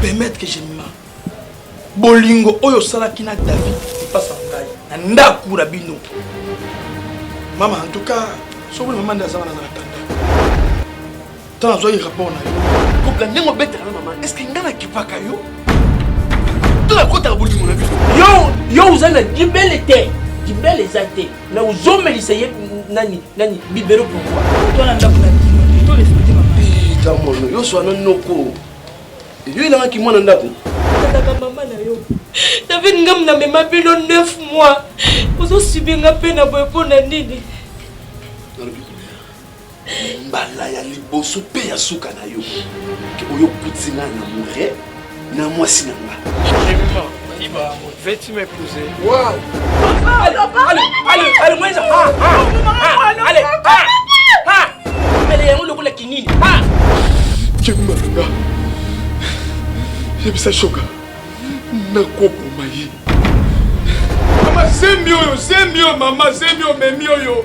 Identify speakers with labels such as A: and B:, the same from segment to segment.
A: permettre que je ma bolingo oyo osalaki na david epasa ngai na ndako na bino mama en tout cas soki mama nde aza wana na atanda to nazwaki rapport na yo kopla ndenge obetaka na mama estce ngai nakipaka yo to nakotaka bolimo na biso yo yo oza na
B: libele te libele eza te na ozomelisa ye nani nani bibero pourkoi twana ndako na bino
A: to respecte mama pita mono yo swana
C: noko yo elangaki mwana ndako kaka mama na
B: yo david ngam na mema bino 9 mois ozosubi nga mpe na boye mpo na nini
C: mbala ya liboso mpe ya suka na yo ke oyo okuti nga na mure na mwasi na nga Veux-tu
A: m'épouser Wow
C: Allez, allez,
B: allez, moi, ah, ah, ah, allez, ah, ah, mbele yango lokola kinini ah
C: kemba na nga yebisa shoka nakoboma ye
A: mama zemi oyo zemi oyo mama zemi omemi oyo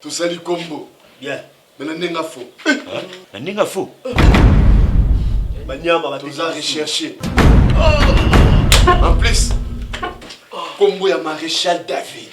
C: tosali kombo bien me na
D: ndenge afo
C: na ndenge afo
D: banyama
C: toza recherche en plus kombo ya maréchal david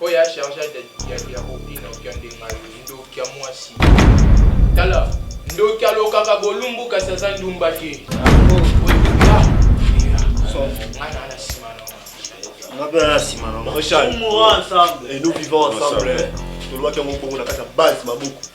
E: Oyo ya charge ya bobino kiande ngayo ndoki ya mwasi
C: tala ndoki alokaka bolumbu kasi aza ndumba te ensemble et nous vivons ensemble tolobaki yango bongo na kati ya base maboko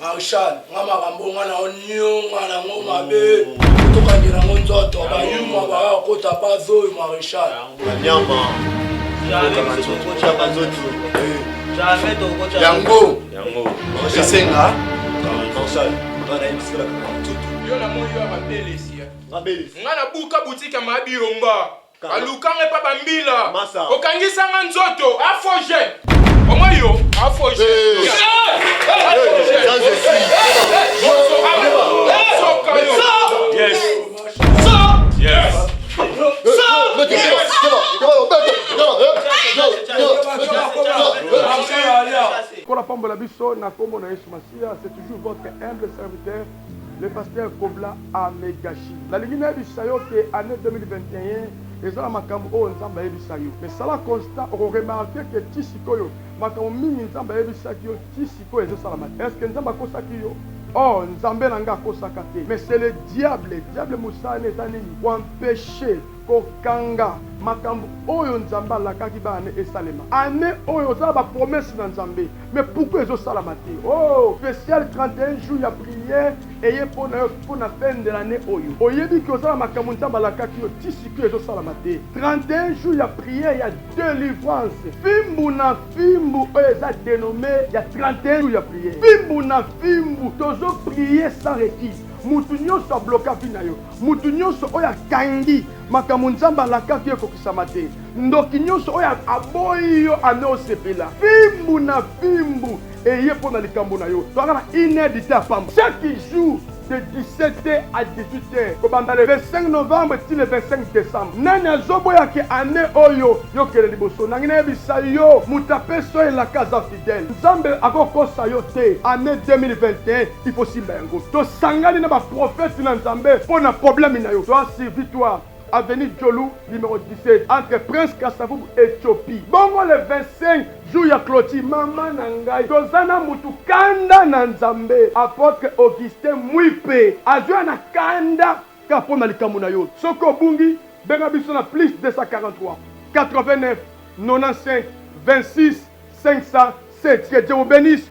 A: Marshal, nga makambo oyo nga nao nionga nango mabe tokangela ngo nzoto bayuma baya kota base oyo Marshal. Nyama.
C: Yango. Yango. Esenga. Marshal. Nga na yebisi kala kaka nzoto.
E: Yo na moyi yo ya mabelesi. Mabelesi. Nga na buka boutique ya mabi yomba. baluka nga epa bambila okangisa nga nzoto afo jeune omoi yo afo
D: jeune Pour
A: la pomme de la biso, na kombo na Yesu Masiya, c'est toujours votre humble serviteur Le pasteur kobla a me gachi nalingi nayebisa yo ke annee 2021 eza na makambu oyo nzambe ayebisa yo mais sala constat oko remarque ke ti sikoyo makambu mingi nzambe ayebisaki yo ti sikoyo ezo salama te eske nzambe akosaki yo or nzambe na nga akosaka te mais c'est le diable diable musala ne eza nini ko empecher Kokanga makambu oyo nzambe alakaki ba annee esalema annee oyo oza na ba promesse na nzambe mais pourquoi ezo salama te ooh special 31 jours ya prière eye po nayo po na fin de l'annee oyo oyebi ke oza na makambu nzambe alakaki yo ti sikoyo ezo salama te 31 jours ya prière ya delivrance fimbu na fimbu oyo eza denome ya 31 jours ya prière fimbu na fimbu tozo prier sans requise mutu nionso abloka vie nayo Mutu nionso oyo akangi makambo Nzambe alakaki yo ekokisama te. Ndoki nionso oyo aboyi yo ame osepela fimbu na fimbu eye mpo na likambo na yo. Toyaka na une heure du temps pamba chaque jour de 17 heures à 18 heures kobanda le 25 novembre ti le 25 decembre. Nani azoboya ke ane oyo yo kende liboso? Nangi nayebisa yo mutu apesi yo elaka aza fidele. Nzambe akokosa yo te ane 2021. il faut simba yango tosangani na baprofete na nzambe mpo na problème na yo toi si victoire avenue Djolou, numéro 17, entre Prince Kassavoub et Chopi. Bongo le 25 jour ya clôture, mama na ngai toza na mutu kanda na Nzambe, apôtre Augustin Mwipe azwa na kanda ka mpo na likambo na yo. Soki obungi, benga biso na plus 243 89 95 26 507. Que Dieu vous bénisse.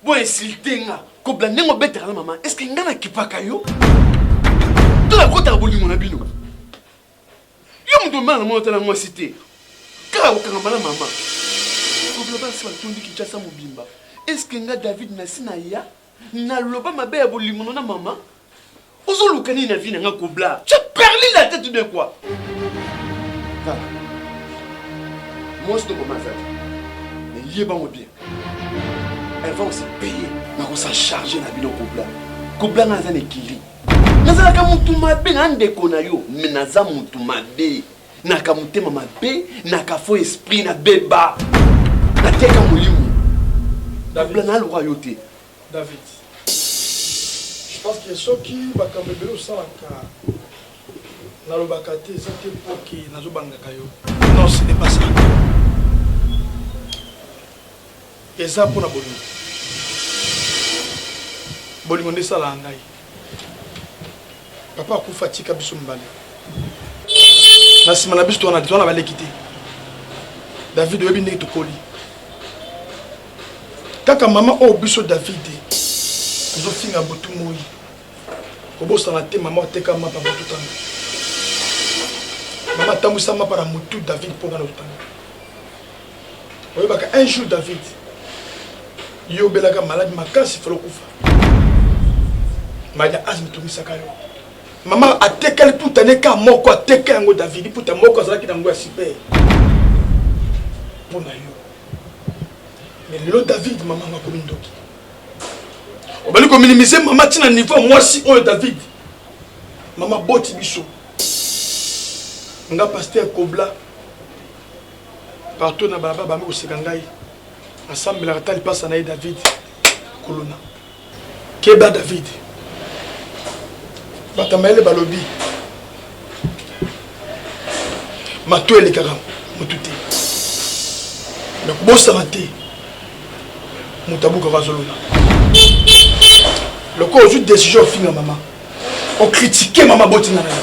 C: Bo insulter nga, ko blame ndenge obetaka na maman, est-ce que nga na kipaka yo? To na kotaka bolingo na bino? Yo moto omema na mwana otala mwasi te, kaka kokangama na maman. Kobla basi batondi Kinshasa mobimba, est-ce que nga David nasi na ya na loba mabe ya bolingo na maman? Ozo luka nini na vie na nga kobla? Tu as perdu la tête de quoi? Tala. Mwasi to mama azali. Mais yeba ngo bien. Elle va aussi payer. Na ko sa charger na bino kobla. Kobla nga aza na ekili. Nazalaka mutu mabe na ndeko na yo, mais naza mutu mabe. Naka motema mabe, naka faux esprit na beba. Nateka molimo.
A: Kobla na loka yo te.
C: David je
A: pense que soki makambo ebele osalaka nalobaka te eza te mpo ke nazobangaka yo non ce n'est pas ça eza mpo na bolingo bolingo nde esalaka ngai papa akufa atika biso mibale na nsima na biso towana te towana baleki te david oyebi ndenge tokoli kaka mama oyo oh, biso david tozofinga butu moi kobosana te mama oteka mapa botutanga mama atambwisa mapa na motu david mpo nga na otanga oyebaka un jour david yo obelaka maladi makasi fala okufa maladi ya asme etungisaka yo mama atekali puta ne ka moko ateka yango davidi puta moko azalaki na yango ya super mpo na yo me lelo david mama yango akomi ndoki obali kominimise mama ntina niveau ya mwasi oyo david mama boti biso nga paster kobla Partout na balabala bami koseka ngai nasambelaka ta lipasa na ye David kuluna keba David bato ya mayele balobi mato elekaka motu te me kobosana te moto abukaka azolola lokola ozwi décision ofinga mama okritike mama botinga na yo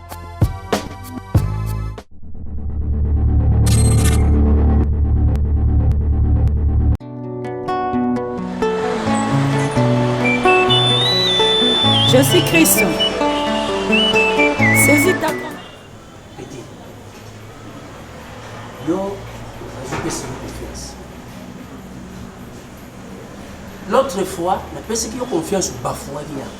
F: Je suis Christ. Saisis ta
G: Petit. Yo, nazopesa yo confiance. L'autre fois, napesaki yo confiance obafouaki yango.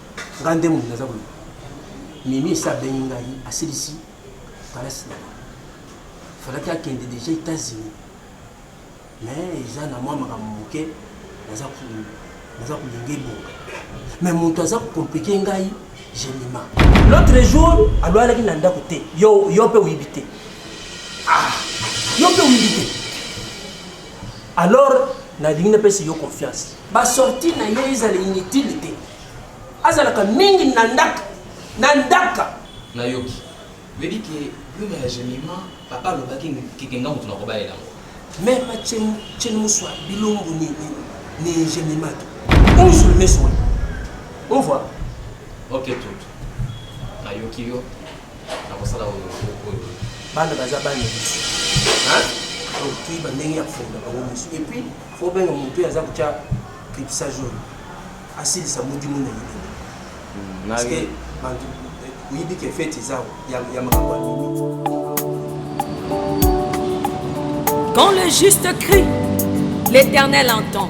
G: nga nde moto naza koloba mimi esi abengi ngai asilisi kalasi na falaki akende deja états-unis mais eza na mwa makambo moke naza kolinga ebonga mais moto aza kokomplike ngai gemima l'autre jour alwalaki na ndako te yo mpe oyibi te ah, yo mpe oyibi te alors nalingi napesi yo confiance Ba sortie na ye ezala inutile te. Azalaka mingi na ndaka. Na ndaka. Na yoki.
H: Veut dire que Bruno ya Jemima, papa alobaki que nga mutu nakobalela ngo. Meme Chen
G: Chen Muswa bilongo ni ni, ni Jemima to. On se le met sur. On voit. Ok
H: tout. Na yoki yo. Na kosala oyo oyo. Bana
G: baza bana. Hein? Donc tu bandenge ya funda bango musu. Et puis Faut obenga mutu oyo aza kotya cripsa jaune asilisa mudimu na elenge hmm, parce que bantu oyebi ke fete eza ya makambo ya mimi
F: Quand le juste crie, l'Éternel entend.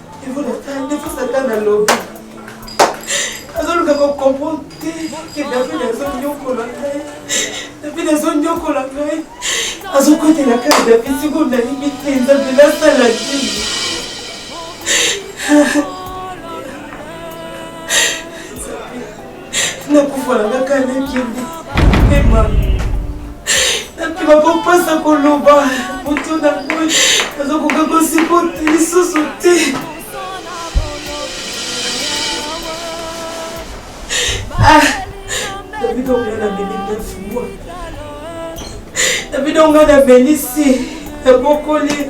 B: ndeko satana alobi azoluka kocomprendre te ke david azonyokola ngai david azonyokola ngai azokotela kaka david siko nayebi te nzambe nasala nini nakufa na kaka nakende pema nakima kopasa koloba moto na moi nazokoka kosipote lisusu te ah, david onga na meli nafumwa david onga na melisi nabokoli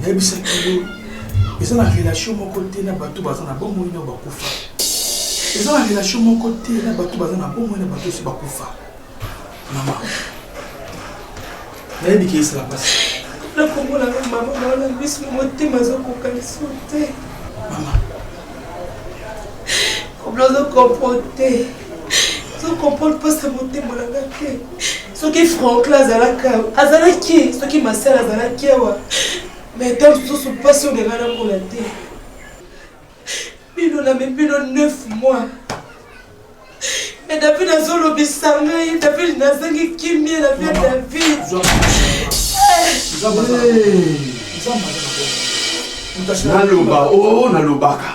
A: nayebisaki yo eza na relation moko te na bato baza na bomoi na bakufa eza na relation moko te na bato baza na bomoi na bato osi bakufa mama nayebi ke esala mpasi nakomona
B: mama naona biso motema azokoka liso te mama kobla ozokompo te comprendre mpasi ya motema na nga te soki franklin azalaki awa azalaki soki masel azalaki awa me ta mosusu mpasi oyo nanga namona te bino na mibino 9 mois me david azolobisa ngai david nazangi kimie na vie david
C: naloba o oh, nalobaka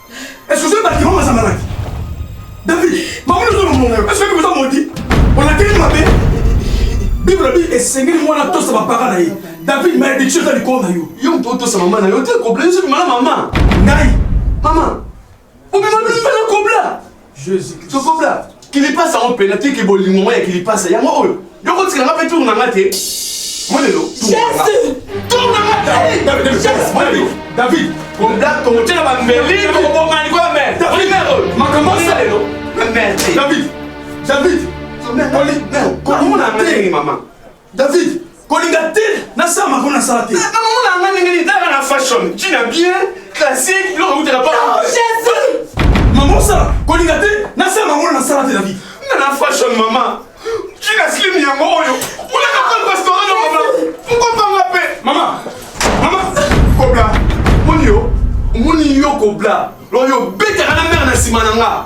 A: Est-ce que c'est pas vraiment ça malade David, maman nous sommes mon Est-ce que vous avez menti On a tellement mabé. Bible la Bible est seigneur moi la tosse ma parole là. David m'a dit tu vas le corps là yo. Yo on tosse maman là,
C: yo t'es complet, c'est maman maman. Ngai,
A: maman.
C: Obi maman, tu fais le complet. tokobla kilipasa yango mpena tiki bolingo ngo ya kilipasa yango oyo yo kotikela nga mpe tour na nga te molelo david kotyela bambeli tokoboma likola mer makambo asalelo david david komona ndenge mama David, kolinga te
A: na sala mako na sala te. Kaka mona nga ndenge
C: ni tala na fashion, china bien, classique, lo ko tela pas. Oh Jésus!
B: Maman ça,
A: kolinga te na sala mako na sala te David. Na na fashion
C: maman. China slim yango oyo. Kuna ka pas restaurant na maman. Mko panga pe. Maman. Maman, kobla. Moni yo, moni yo kobla. Lo yo beta kana mère na sima na nga.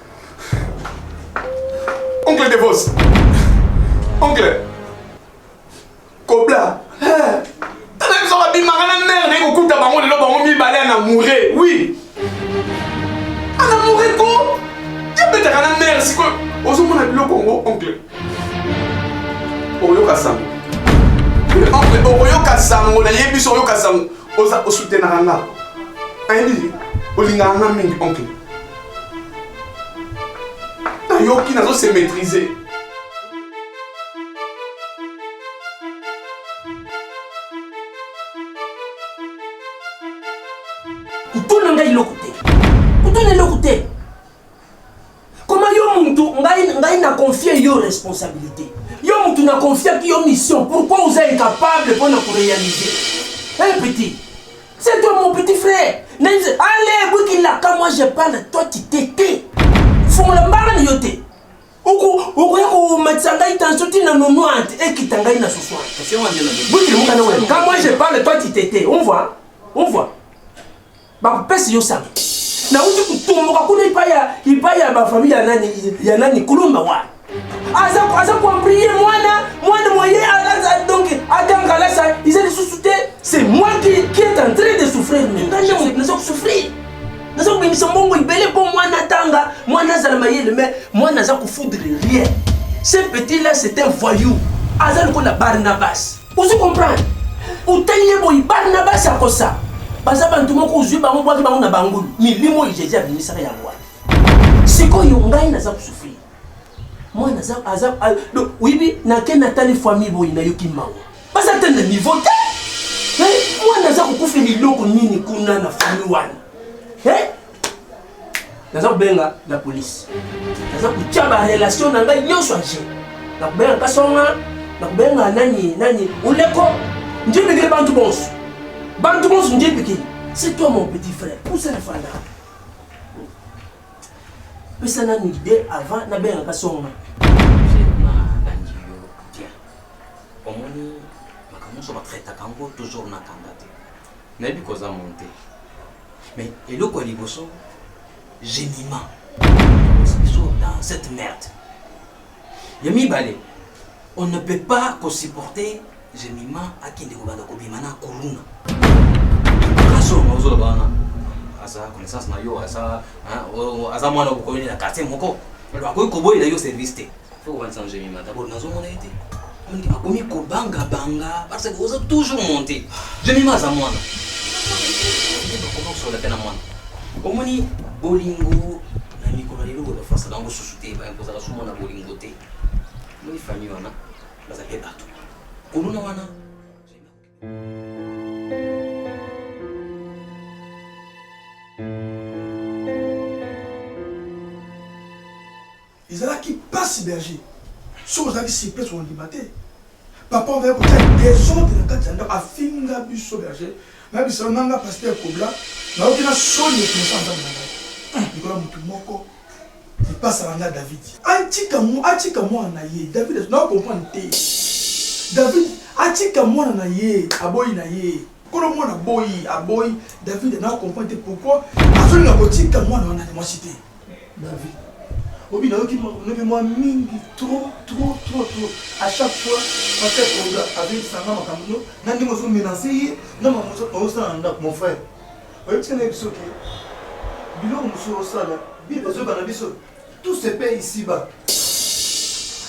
E: Oncle Devos. Oncle. Kobla. Tala biso ba bimaka na mère na kokuta bango lelo bango mibale ana mourre. Oui. Ana mourre ko. Ya betaka na mère siko. Ozomona biloko ngo oncle. Oyoka sango. Oncle oyoka sango na yebi so oyoka sango. Oza osutenaka nga. Ayebi olingaka nga mingi oncle. nayoki nazo se maîtriser
G: kutuna ngai eloko te kutuna eloko te koma yo mutu ngai ngai na confie yo responsabilité yo mutu na confiaki yo mission pourquoi oza incapable mpo na korealiser un petit C'est toi mon petit frère. Allez, Bouikila, quand moi je parle, toi tu t'étais. Fongola mbanga ni yote. okoya komatisa ngai tension ti na nonoante ekita ngai na sosoanbutilimukanawe ka moi je parle toi tu t'étais on voit on voit bakopesi yo sango nauti kotomboka kuna ipai ya bafamille ya nani kulumba wa aza aza kuamplie mwana mwana moye alaza donc atanga alasa iza lisusu te c'est moi qui, qui est en train de souffrir maintenant naza kosouffrir naza kobimisa mbongo ebele mpo mwana atanga mwana azala mayele mais mwana aza kofoudre rien ce petit là c'est un voyou aza lokola barnabas ozi comprendre otali ye boyi barnabas akosa baza bantu moko ozwi bango bwaki bango na bangulu milimo oyo jesus abimisaka yango wana sikoyo ngai naza kosouffrir mwana aza aza donc oyebi nake natali famille boye nayoki mawa baza te na niveau te mwana aza kokufela eloko nini kuna na famille wana naza kobenga la polise naza kotya barelation na ngai nyonso age nakobenga kasonga nakobenga nani nani oleko njebekele bantu bonso bantu bonso njebekele c'est toi mon petit frère pousa na fanda Pesa nanu idée avant na benga ka songa.
H: omoni makambo nyonso batraitaka yango toujours na kanda te nayebi koza monte mais eloko ya liboso gemima biso dans cette merde Ya mibale, on ne peut pas ko supporter Jemima akende kobanda kobima na kuluna. Kaso maozo bana. Asa connaissance na yo asa hein, o- aza mwana okoyeli na quartier moko. Alors akoki koboyela yo service te. Faut wanza Jemima d'abord nazomona ye te. Nde bakomi kobanga banga parce que oza toujours monte jemima aza mwana nde bakomi kosola mpe na mwana omoni bolingo na mikolo lelo oyo bafasaka yango susu te bakozala su mwana bolingo te omoni famille wana baza mpe bato kuluna wana
A: ezalaki mpasi berger soki ozalaki surprise kondima te papa ozali kotya desordre na kati ya ndako afinga biso berger nayebisana nanga paster kobla nayoki na soni ekomesa nzambe na ngai likolo ya motu moko Lipasa na nga David. Atika mu atika mwana na ye. David na comprendre te. David atika mwana na ye, aboyi na ye. Kolo mwana boyi, aboyi. David na comprendre te pourquoi azoli na kotika mwana wana mwasi te. David. Obi na yoki lobi mwa mingi trop trop trop trop. À chaque fois pasteur Oga avec sanga makambo na ndenge ozo menacer ye na makambo ozo sala na ndako mon frère. Oyebisa na biso ke biloko mosusu osala bible ezoyeba na biso tout se paye ici bas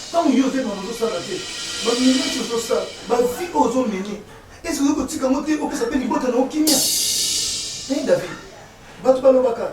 A: ntango yo ozoyeba ozosala te bamileti ozosala bavi oyo ozomene ese oyoki kotika yango te opesa mpe libota na okimia e david bato balobaka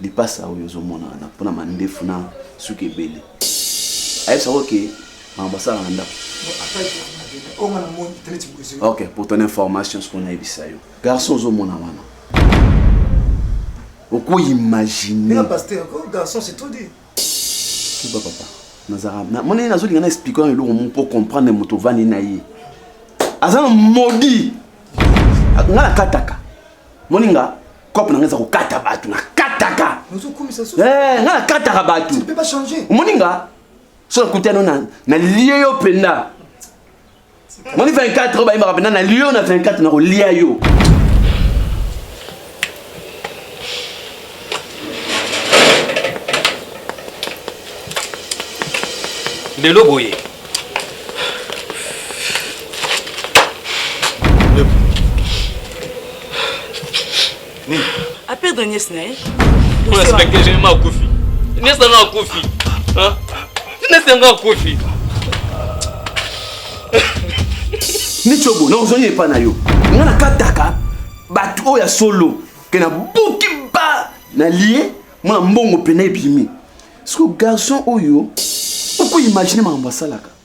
C: lipasa oyo ozomona wana mpona mandefu na suki ebele ayebisa ko ke makambo asala na ndako ok pour ton information soki onayebisa yo garçon ozomona wana okoimagine
G: kiba
C: papa nazalaka monene nazolinga na explike wana eloko moko mpo comprendre moto ovandi na ye aza na modi nga nakataka moninga cope na ngai eza kokata bato nakataka eh,
G: ngai nakataka
C: bato omoni
G: nga
C: so nakutano na lie yo mpenza moni 24 oyo bayembaka mpenza na lie yo na 24 nakolia yo
I: lelo boye
B: nini a perdre nièce na ye on respecte
I: je ma kufi nièce na nga kufi hein nièce na nga kufi
C: nicobo na ozongi epa na yo nga nakataka bato oyo ya solo ke nabuki ba na lie mwana mbongo mpena ebimi siko garçon oyo okoimagine makambo asalaka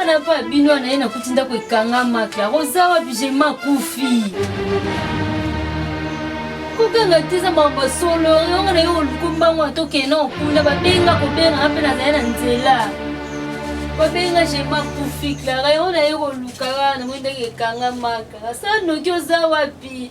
J: Ana pa bino ana ye nakuti ndako ekangama kla oza wapi jema kufi kokanga te eza makambo ya solo yango na ye oluku mbango atokee na okunda babenga kobengaka mpe nazali na nzela babenga jema kufi klara yango na ye koluka kaka namoi ndenge ekangama kaka sa noki oza wapi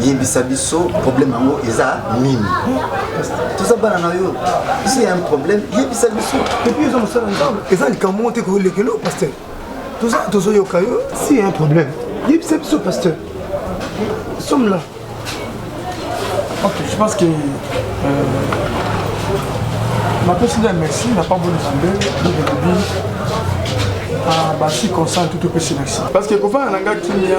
K: yebisa biso problème yango eza nini toza bana na yo si ya un problème yebisa biso epuis eza mosala
L: nzambe eza likambo moko te koyolekelo paster toza tozoyoka yo si ya un problème yebisa biso paster somme là
A: ok je pense que euh, napesi nde merci na pambo nzambe lobi basi consent tout opesi merci parce que kofana na nga kimia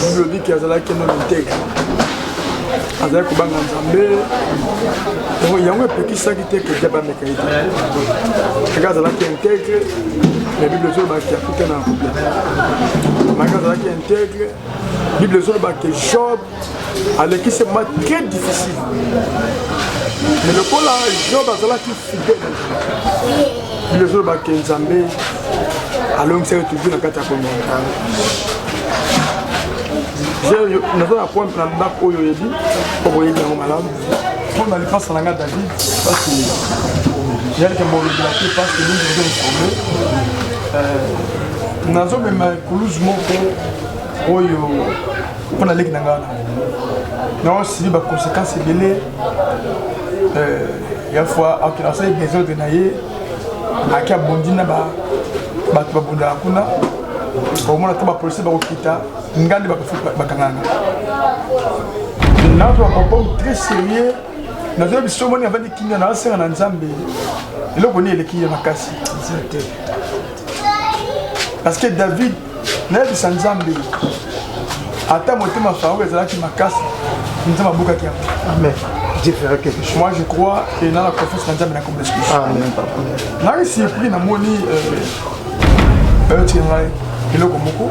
A: biblodiki azalaki no linteke azali kobanga nzambe yango epekisaki te kedia bameka ye te kaka azalaki integre na bible ezolobaki akuta na couple maka azalaki integre bible ezolobaki job alekisi ma très difficile
L: mais lokola job azalaki fidèle bilezo olobake nzambe alongisaki toujours na kati ya komonta naza na point na ndako oyo oyebi mpo boyebi yango malamu mpo na lipasa na ngai david pasi yalike bolobela te pasi mingi ezo informe nazomema ekuluzu moko oyo mpo na leki na ngai wana na osibi baconséquence ebele euh, ya fois asali desordre na ye aki abondi na bato babundaka kuna omona to bapolisi bakokita ngai nde bakangana nazo bakopomu très sérieux nazo biso moni avandi kimia na asenga na nzambe eloko nini eleki ye makasi parce que david nayebisa nzambe ata motema farao ezalaki makasi nzambe abukaki yango amen moi je crois et na la confiance na nzambe na kombo yesu nanga surpris namoni bayotika ngai eloko moko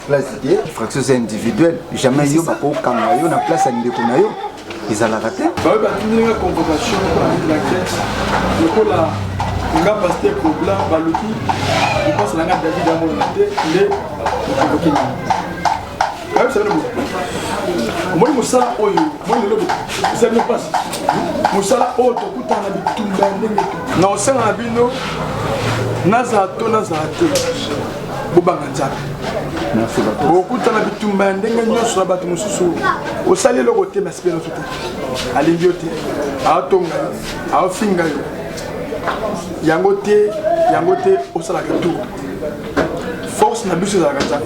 K: place te fraction eza individuelle jamais yo bakokanga yo na place ya ndeko na yo ezalaka te baoyo batindelinga
L: convocation na grèce lokola nga paste problème baluki lipansa na nga david amonana te nde okonvoke nini bayebisa bino omoni mosala oyo omoni lelo eza bino mpasi mosala oyo tokutana na bitumba ndenge na osenga na bino nazala to nazala te bobanga nzambe okutana bitumba ya ndenge nyonso na bato mosusu osali eloko te masipe nyonso te alingi yo te aotonga yo aofinga yo yango te yango te osalaka tour force na biso ezalaka nzambe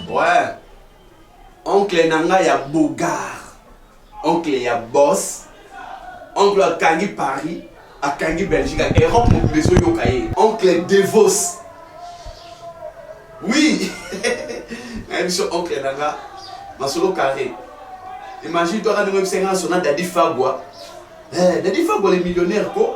M: Ouais. Oncle na nga ya Bogar. Oncle ya Boss. Oncle akangi Paris, akangi Belgique, Europe mobimba ezoyoka ye. Oncle Devos. Oui. na biso oncle na nga masolo carré. Imagine toi quand tu me sens sur Daddy Fabwa. Eh, Daddy Fabwa le millionnaire ko.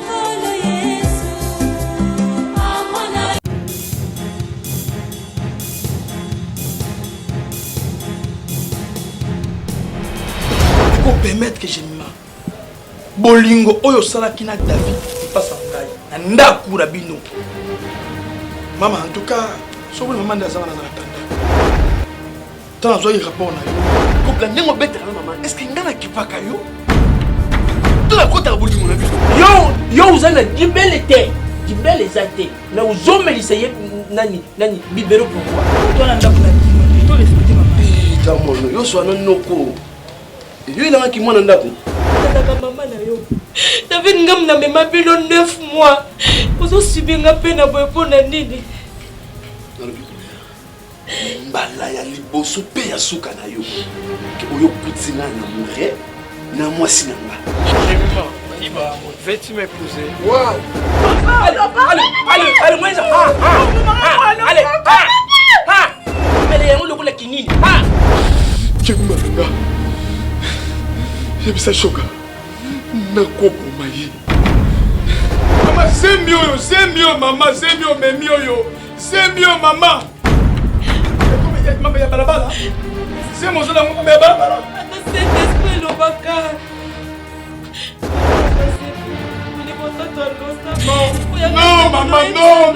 A: permettre que je ma bolingo oyo osalaki na david epasa ngai na ndako na bino mama en tout cas soki mama nde aza wana na atanda to nazwaki rapport na yo kopla ndenge obetaka na mama estce ngai nakipaka yo to nakotaka bolingo na biso yo yo oza na
G: libele te libele eza te me ozomelisa ye nani nani bibero pourkoi twana ndako na bino
A: to respecte mama pita mono yo
M: swana noko yo elangaki mwana ndako nataka mama na
B: yo david ngam na mema bino 9 mois ozosubi nga mpe na boye mpo na nini
M: mbala ya liboso mpe ya suka na yo ke oyo okuti nga na mure na mwasi na nga
A: Veux-tu m'épouser Wow
M: Allez, allez, allez,
G: allez, moi, ça Ah, ah, ah, allez, ah, ah Mele yango lokola kinini Ah
C: Kemba na nga yebisa shoka nakoboma ye
A: mama zemi oyo zemi oyo mama zemi omemi oyo Sembi yo mama. Mama ya balabala. Sembi ozo na mama ya balabala. Ata sente esprit
B: elobaka.
A: Non, non, maman, non.